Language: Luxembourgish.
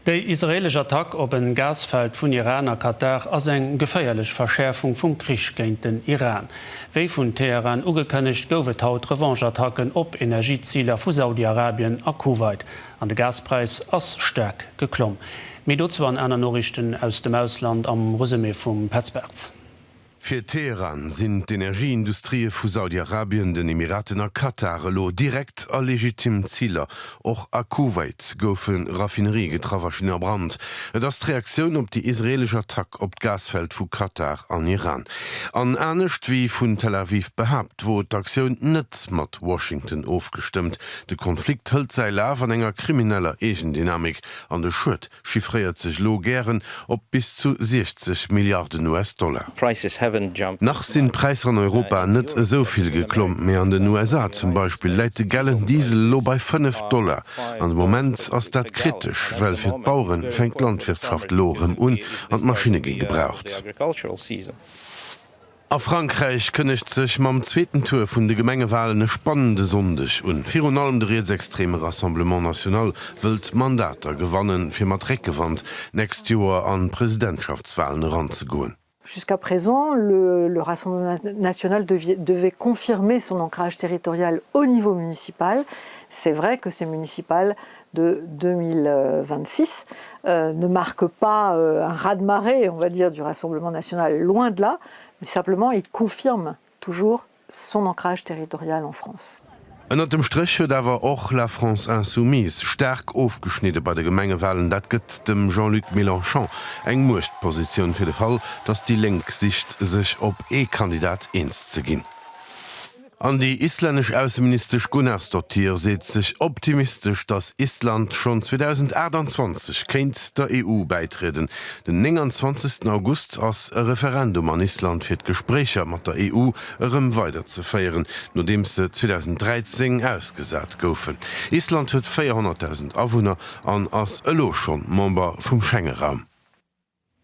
Déi israeelesch Attack op en Gasfeld vun Iran a Katar ass eng geféierlech Verschäerfung vum Krich géint den Iran. Wéi vun Teheran ugekënnegt, gouf et haut Revanche-Attacken op Energieziler vu Saudi-Arabien a Kuwait. An de Gaspräis ass staark geklomm. Méi dozou an aner Noriichten aus dem Ausland am Resumé vum Petz Bartz. Fir Teheran sinn d'Energieindustrië vu Saudi-Arabien, den Emiraten a Katar elo direkt a legitim Ziler. Och a Kuwait goufe Raffinerië getraff a stinn a Brand. Et ass d'Reaktioun op déi israeelesch Attack op d'Gasfeld vu Katar an Iran. An anescht wéi vun Tel Aviv behaapt, wor d'Aktioun net mat Washington ofgestëmmt. De Konflikt hëlt säi Laf an enger krimineller Eegendynamik an de Schued chiffréiert sech elo gären op bis zu 60 Milliarden US-Dollar. Nach sinn d'Präisser an Europa net esou vill geklomm, mee an den USA zum Beispill läit de gellen Diesel elo bei 5 Dollar. An de Moment ass dat kritesch, well fir d'Bauere fänkt d'Landwirtschaft elo erëm un an d'Maschinne gi gebraucht. A Frankräich kënnegt sech mam zweeten Tour vun de Gemengewalen e spannende Sonndeg un. Virun allem de rietsextreme Rassemblement National wëllt Mandater gewannen, fir mat Réckgewand d'nächst Joer an d'Presidentschaftswalen eranzegoen. Jusqu'à présent, le Rassemblement National devait confirmer son ancrage territorial au niveau municipal. C'est vrai que ces municipales de 2026 ne marque pas un raz-de-marée, on va dire, du Rassemblement national, loin de là, mais simplement il confirme toujours son ancrage territorial en France. Ënnert dem Stréch huet awer och La France insoumise staark ofgeschnidde bei de Gemengewalen. Dat gëtt dem Jean-Luc Mélenchon eng Muechtpositioun fir de Fall, datt déi Lénk sicht sech op ee Kandidat eens ze ginn. An déi islännesch Ausseministesch Gunnarsdottir seet sech optimistesch, datt Island schonn 2028 kéint der EU bäitrieden. Den 29 August ass e Referendum an Island fir d'Gespréicher mat der EU erëm weider ze féieren, nodeems se 2013 ausgesat goufen. Island huet 400.000 Awunner an ass elo schonn Member vum Schengeraum.